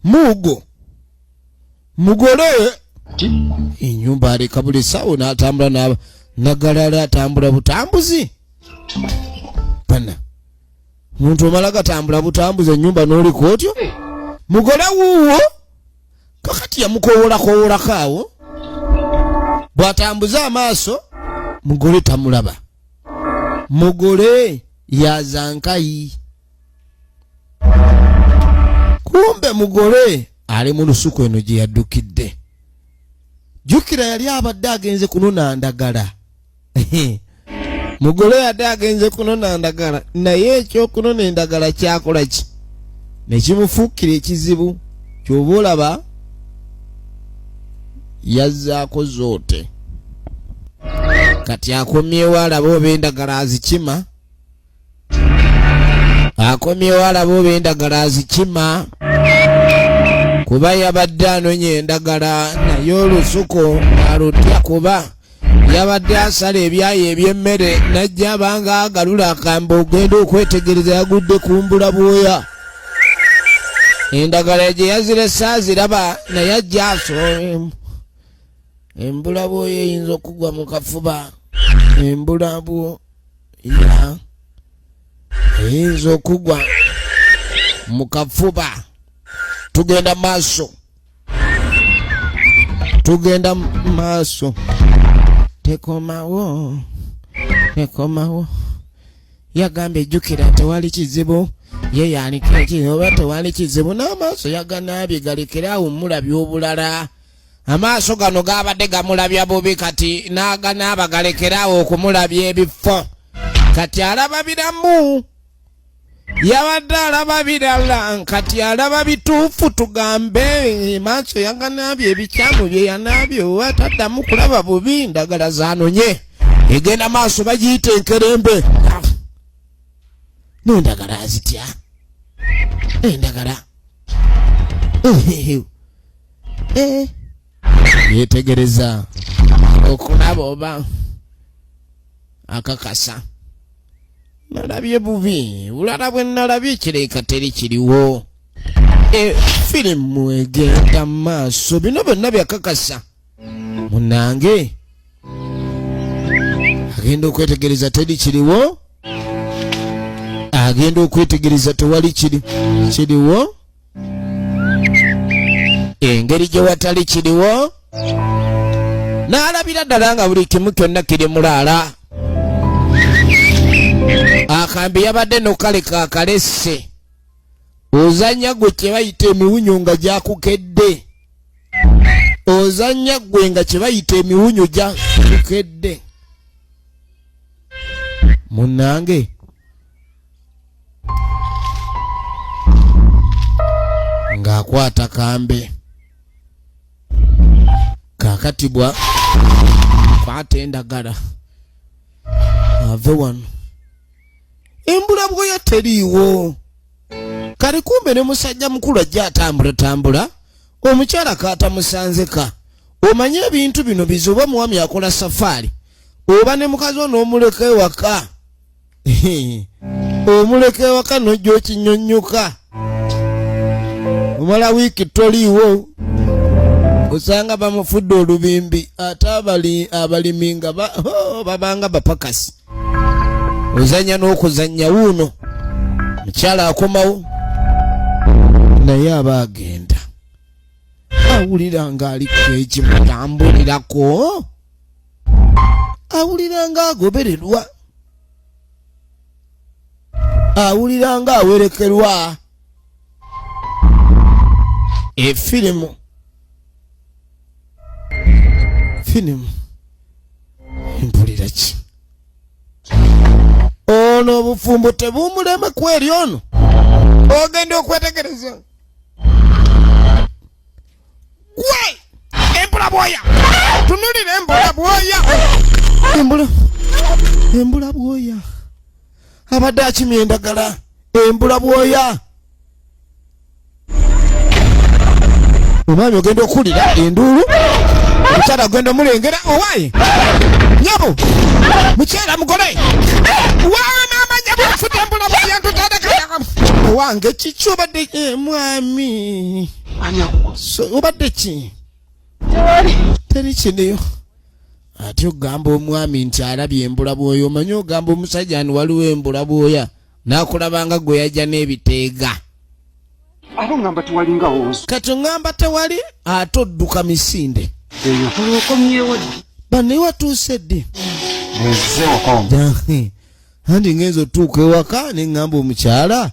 mugo mugole enyumba aleka buli sawo natambula naba nagalala atambula butambuzi pana muntu omala gatambula butambuzi enyumba noliko otyo mugole wuwo kakati yamukowolakowolako awo bwatambuza amaaso mugole tamulaba mugole yazankayi kumbe mugole ali mu lusuku eno gye yaddukidde jjukira yali abadde agenze kunona ndagala mugole yadde agenze kunona ndagala naye ekyokunona endagala kyakola ki nekimufuukira ekizibu kyoba olaba yazzaako zoote kati akomyewo alaba oba endagala azikima akomyewo alaba oba endagala azikima kuba yabadde anonya endagala naye olusuku alutya kuba yabadde asala ebyayi eby'emmere najja abanga agalula akamba ogenda okwetegereza yagudde kumbula bwoya endagala gye yazirese aziraba naye ajja asoomu embula bwoya eyinza okugwa mu kafuba embula bwo ya eyinza okugwa mu kafuba tugenda maaso tugenda maaso tekomawo tekomawo yagambye jjukira tewali kizibu ye yaliko ekizi oba tewali kizibu n'amaaso yaganaabye galekere awo mulabi obulala amaaso gano gaabadde gamulabya bubi kati n'aganaaba galekeraawo okumulabya ebifo kati alaba biramu yabadde alaba birala kati alaba bituufu tugambe maaso yaganaabye ebikyamu bye yanaabye oba taddamu kulaba bubi ndagala zanonye egenda maaso bagiyita enkerembe nendagala azitya endagala eh. yetegereza okulaba oba akakasa nalabye bubi bulala bwe nalabye kireka teri kiriwo e, firimu egenda mu maaso bino byonna byakakasa munange agenda okwetegereza teri kiriwo agenda okwetegereza tewali kiri kiriwo engeri gye watali kiriwo n'alabira ddala nga buli kimu kyonna kiri mulaala akambi yabadde nokale kakalesse ozanya gwe kyebayita emiwunyo nga gyakukedde ozanya gwe nga kyebayita emiwunyo gyakukedde munange ng'akwata kambe kakati bwa kwata endagala ave wano embula bwoya teriiwo kali kumbe ne musajja mukulu ajja atambulatambula omukyala kaatamusanzeka omanye ebintu bino bizuba omuwami akola safaari oba ne mukazi ono omuleka ewaka omuleka ewaka nojja okinyonyoka omala wiiki toliiwo osanga bamufudde olubimbi ate abalimi nga babanga bapakasi ozanya n'okuzanya wuuno mukyala akomawo naye aba agenda awulira ng'aliko ekimutambulirako awulira nga agobererwa awulira nga awerekerwa efirimu firimu mpulira ki ono obufumbo tebumulema kweri ono ogenda okwetegereza Why? Embula bwoya. Tunulira embula bwoya. Embula. Embula bwoya. Abadde akimye endagala. Embula bwoya. Omwami ogenda okuwulira enduulu. Omukyala ogenda omulengera owaye. Nyabo. Mukyala mugole. Waa maama nyabo afudde embula bwoya ntutadekaya. Owange kiki obadde eh, mwami. obadde ki teri kiriyo ate ogamba omwami nti alabye embula bwoya omanyi ogamba omusajja ni waliwo embula bwoya nakulabanga gwe yajja n'ebiteega ate ogamba tewali nga wonso kati ogamba tewali ate odduka misinde banaye watuuse ddi andi ngenza otuuka ewaka ne ŋŋamba omukyala